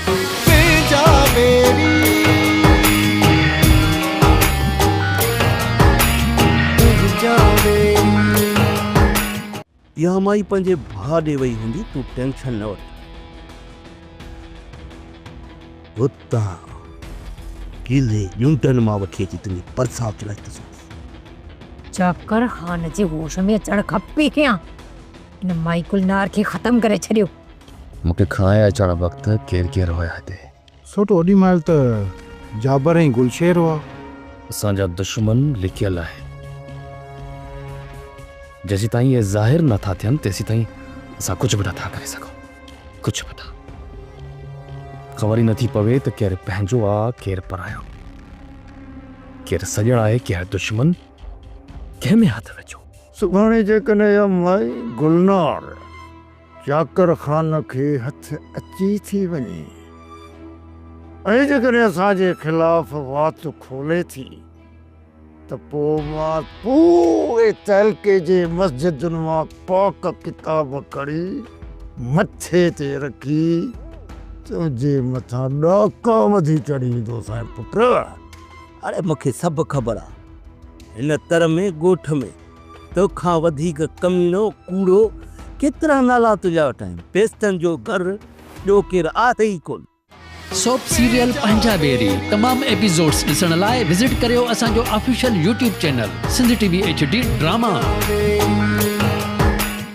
تنهنجا ويري تنهنجا ويري. اها مائي پنهنجي ڀاء ڏي وئي هوندي تون ٽينشن نه وٺ. هتان ڪيلي ڄونٽن مان وٺي اچي تنهنجي پرسان چڙهائي ٿو سگهان. چاڪر خان جي هوش ۾ اچڻ کان پهريان هن مائي گلنار کي ختم ڪري ڇڏيو. مون کي کڻائي اچڻ وقت ڪير ڪير هيا هتي؟ سوٽ اوڏي مهل ته جابر ۽ گلشير هئا. اسان جا دشمن لڪيل آهن. جيسيتائين اهي ظاهر نه ٿا ٿين تيسيتائين اسان ڪجهه به نه ٿا ڪري سگهون. ڪجهه به نه. خبر ئي نه ٿي پوي ته ڪير پنهنجو آ ڪير پرايو. ڪير سڄڻ آهي ڪير دشمن. ڪنهن ۾ هٿ وجهون. سڀاڻي جيڪڏهن اها مائي گلنار. چاڪر خان کي هٿ اچي ٿي وڃي ۽ جيڪڏهن اسان جي خلاف وات کولي ٿي ته پوء مان پوري تعلقي جي مسجدن مان پاڪ ڪتاب کڻي مٿي تي رکي تنهنجي مٿان ڏاڪا وڌي چڙهيندوسانء پٽ! اڙي مون کي سڀ خبر آ هن تر ۾ ڳوٺ ۾ تو کان وڌيڪ ڪميڻو، ڪوڙو، ڪيترا نالا تنهنجا وٺايون. پيستن جو گهر ٻيو ڪير آهي ئي ڪونه. سوپ سيريل پنهنجا بيري تمام ايپيزوڊس ڏسڻ لاء وزٽ ڪريو اسان جو official YouTube channel Sindh T V H D drama.